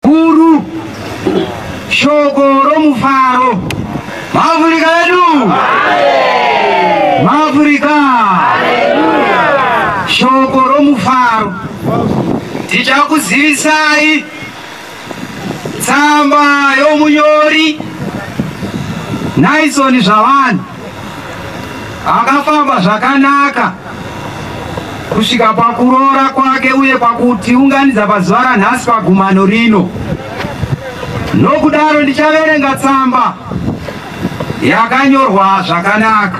Guru, shoko romufaro. Maafurika edu. Maafurika. Shoko romufaro. Tichakuzivisai tsamba yomunyori Naison Zvavanhu. Akafamba zvakanaka kusvika pakuroora kwake uye pakutiunganidza pazuva ranhasi pagumano rino. Nokudaro ndichaverenga tsamba yakanyorwa zvakanaka.